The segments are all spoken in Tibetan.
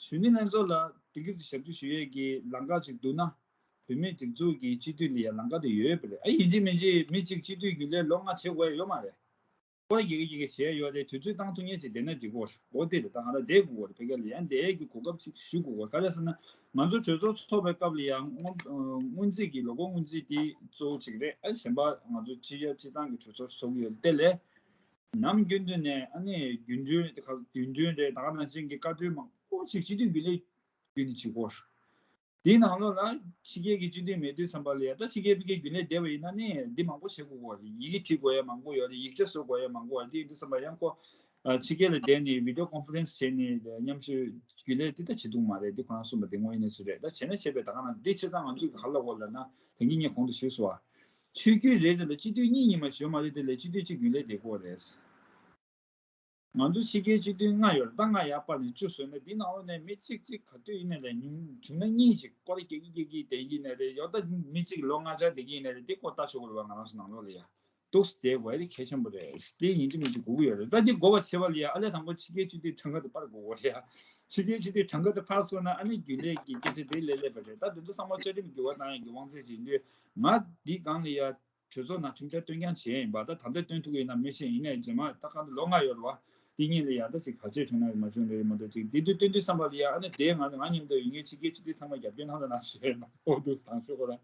གཞོན་ནུ་ལྷན་ཚོགས་ལ་སྡེ་དགེ་བཙུན་ཞབས་བཅུ་ཞུ་ཡས་ཀྱི་ལང་ཀ་ཅིག་འདུག་ན། བུད་མེད་སྒྲིག་འཛུགས་ཀྱི་སྤྱི་འཐུས་ལ་ཡང་ལང་ཀ་དེ་ཡོད་པ་རེད་ཨ་ཡིན་གཅིག་མིན་གཅིག་མི་གཅིག་སྤྱི་འཐུས་རྒྱུན་ལས་ལོ་ལྔ་བྱེད་དགོས་ཡོད་མ་རེད། ཀོ་རེ་གྱིས་གྱིས་གྱིས་བྱས་ཡོད་རེད་དུས་ཚོད་བཏང་ཐུག་ཉེ་ཅིག་བསྡད་ན་འགྲིག་གོ་འོ་དེ་རེད་ད་ང་ར་བསྡད་དགོས་གོ་རེད་བོད་སྐད་ལ་ཡང་བསྡད་རྒྱུ་གོ་སྐབས་ཅིག་ཞུ་དགོས་གོ་རེད་ག་རེད་ཟེར་ན། ང་ཚོ་གྲོས་ཚོགས་ཚོགས་པའི་སྐབས་ལ་ཡང་སྔོན་རྩིས་ཀྱི་ལོ་འཁོར་སྔོན་རྩིས་དེ་གཙོ་བོ་ཅིག་རེད་ཨ་གཞན་པ་ང་ཚོ་སྤྱི་ཡ་སྤྱི་བཏང་གི་གྲོས་ཚོགས་ཚོགས་ཀྱི་ཡོད་དེ་ལས། ནམ་རྒྱུན་དུ་ནས་ཨ་ནེ་རྒྱུ་འགྲུལ་དེ་ག་དུས་འགྲུལ་རེད་ད་ནང་ཆེན་གྱི་བཀའ་གྲོས་མང་པོ་ཞིག་སྤྱི་འཐུས་བི་ལེ་རྒྱུ་ནས་བྱེད་གོ། དེའི་ནང་ལོགས་ལ་ཕྱི་རྒྱལ་གྱི་སྤྱི་འཐུས་མེད་དུས་སམ་པ་ལ་ཡ་ད་ཕྱི་རྒྱལ་བི་ཀའི་རྒྱུ་ལས་བསྡད་པ་ཡིན་ན་ནས་འདི་མང་པོ་བྱེད་དགོས་གོ་རེད་ཡི་གེ་བྲིས་དགོས་ཡ་མང་པོ་ཡོད་རེད་ཡིག་ཆ་བཟོ་དགོས་ཡ་མང་པོ་རེད་དེ་སམ་པ་ཡང་ཁོ་ཕྱི་རྒྱལ་ལ་བསྡད་ནས་བི་དོ་ཀོན་ཕུ་རན་སི་བྱས་ནས་མཉམ་ཞུ་རྒྱུ་ལས་དེ་ད་བྱེད་འདུག་མ་རེད་དེ་ཁོ་རང་གསུངས་པ་དེ་དངོས་གནས་སུ་རེད་ད་བྱས་ན་བྱས་པས་ད་ག་ནང་འདི་ཕྱི་ཚང་ང་ཚོས་ག་ལ་གོ་ལ་ན་དེང་གི་ཉིན་གོང་དུ་ཞུས་སོ། ཆོས་བརྒྱུད་རེ་རེ་ལ་སྤྱི་འཐུས་གཉིས་གཉིས་མ་བྱོན་མ་རེད་དེ་ལས་སྤྱི་འཐུས་གཅིག་རྒྱུན་ལས་འདེད་དགོས་རེད། ང་ཚོ་ཕྱི་རྒྱལ་སྤྱི་འཐུས་ལྔ་ཡོད་རེད་ད་ལྔ་ཡར་སྤར་ནས་བཅུ་བཟོས་ན་འདི་ནང་ལོག་ནས་མི་གཅིག་གཅིག་ག་དུས་ཡིན་ན་ལས་ཉུང་བྱུང་ན་གཉིས་ཞིག་སྐོར་སྐྱེ་གི་སྐྱེ་གི་དེ་ཡིན་ན་རེད་ཡོད་ད་མི་གཅིག་ལོ་ལྔ་ཆར་འདེད་ཀྱི་ཡིན་ན་རེད་དེ་སྐོར་ལྟ་ཆོག་གི་རེད་བ་ང་རང་ཚོ་ནང་ལོག་ལ་ཡ་གཏུགས་སུ་དེ་བས་གལ་ཆེན་པོ་རེད་དེ་ཡིན་གྱི་མིན་གྱི་སྒུག་གི་ཡོད་རེད་ད་འདི་འགོ་བ་ཕྱེ་བ་ལ་ཡ་ཨ་ལས་དང་པོ་ཕྱི་རྒྱལ་སྤྱི་འཐུས་གྲངས་ཀ་དེ་སྤར་དགོས་གི་རེད་ཕྱི་རྒྱལ་སྤྱི་འཐུས་གྲངས་ཀ་དེ་འཕར་སོང་ན་ཨ་ནི་རྒྱུན་ལས་ཀྱི་སྐད་ཆ་དེ་ལས་ལེགས་པ་རེད་ད་དེ་ཚོ་ཚང་མ་བཅའ་ཁྲིམས་བསྒྱུར་བ་དང་ཡང་གི་དབང་ཚད་ཇི་འདོད་ང་འདི་གང་ལ་ཡར་གྲོས་ཚོགས་ནང་ཁྲིམས་འཆར་བཏོན་རྐྱང་བྱེད་ཡིན་པ་ད་ད་བཏོན་ཐུག་གི་ཡིན་ན་མི་ཤེས་ཡིན་ནའི་རྗེས་མ་ད་ག་འདི་ལོ་ལྔ་ཡོལ་བ་འདི་གཉིས་ལ་ཡར་ད་ཅིག་ག་ཚོད་བྱུང་ན་ཡོད་མ་བྱུང་ལོས་ཡོད་མ་འདུག་ཅིག་འདི་དུས་བཏོན་དུས་བསམ་པ་ལ་ཡར་ཨ་ནི་དེས་ང་ང་ཉིད་མདོ་ཡི་ངའི་ཕྱི་རྒྱལ་སྤྱི་ཏི་ཚང་མ་རྒྱབ་སྐྱོར་གནང་དང་གནང་ཞེས་ཨོ་རྡུ་སང་ཞོག་ཁོ་རང་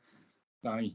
དང།